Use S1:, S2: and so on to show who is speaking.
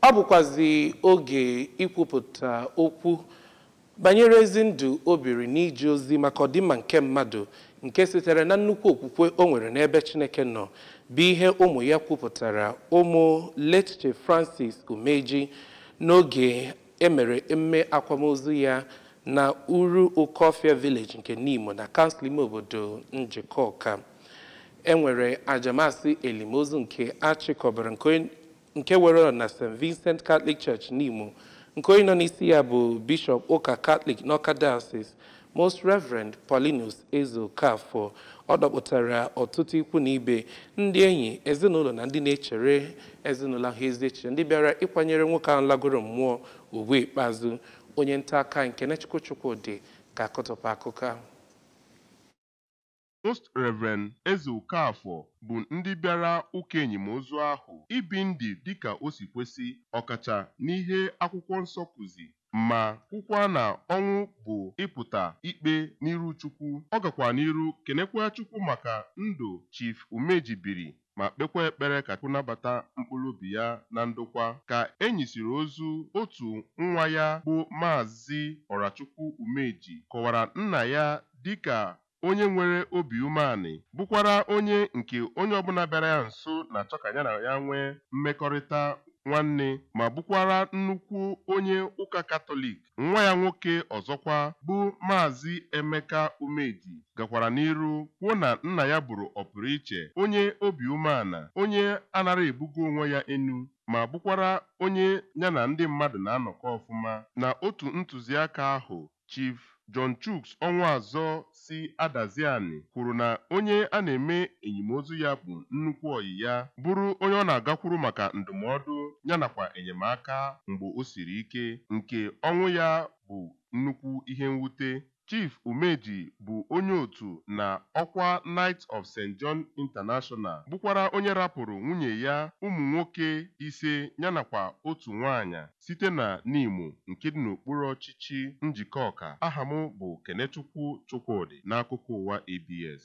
S1: Ọ bụkwazi oge ikwupụta okwu banyere ezi ndụ o biri n'ije ozi maka ọdịmma nke mmadụ nke sitere na nnukwu okwukwe o nwere n'ebe Chineke nọ bụ ihe ụmụ ya kwupụtara ụmụ late Chief Francis Umeji n'oge emere emume akwamozu ya na Uru Okofia Village nke Nimo na kansụl ime obodo Njikọka. e nwere aja masị elimozu nke achịkọbara nke were ọnọdụ na st vincent catholic church nimo nke onye nọ n'isi ya bụ bishọp ụka catholic n'ọka diocese most reverend paulinus ezeokafor ọ dọpụtara ọtụtụ ikwu na ibe ndị enyi ezinụlọ na ndị na-echere ezinụlọ ahụ ezi echiche ndị bịara ịkwanyere nwoke ahụ lagoro mmụọ ugwu ikpeazụ onye nta akụkọ kenechukwu chukwudị ga-akọtụpụ akụkọ ahụ
S2: Most Rev. Ezeokafor bụ ndị bịara ụka enyimozu ahụ ibi ndụ dịka o si kwesi ọkacha n'ihe akwụkwọ nsọ kuzi ma kwukwaa na ọnwụ bụ ịpụta ikpe n'iru Chukwu. Ọ gakwa n'iru kenekwaa Chukwu maka ndụ Chief Umeji biri ma kpekwa ekpere ka Chukwu nabata mkpụrụ obi ya na ndokwa. Ka e nyisiri ozu, otu nwa ya bụ Maazị Ọrachukwu Umeji kọwara nna ya dịka onye nwere obi umeanị, bụkwara onye nke onye ọbụla bịara ya nso na-achọ ka ya na ya nwee mmekọrịta nwanne ma bụkwara nnukwu onye ụka Katọlik. Nwa ya nwoke ọzọkwa bụ Maazị Emeka Umeji gakwara n'iru kwuo na nna ya bụrụ ọpụrụiche, onye obi umeala, onye anara ebugo onwe ya enu ma bụkwara onye ya na ndị mmadụ na-anọkọ ọfụma. Na otu ntụziaka ahụ, Chief John Chuks Ọnwụazọ si Adazi Ani kwuru na onye a na-eme enyimozu ya bụ nnukwu ọyị ya, bụrụ onye ọ na-agakwuru maka ndụmọdụ ya nakwa enyemaka mgbe o siri ike, nke ọnwụ ya bụ nnukwu ihe mwute. Chief Umeji bụ onye otu na ọkwa Knight of Saint John International bụkwara onye rapụrụ nwunye ya, ụmụ nwoke ise ya nakwa otu nwaanyị. Site na Nimo nke dị n'okpuru ọchịchị Njikọka, aha m bụ Kenechukwu Chukwudị n'akụkọ ụwa ABS.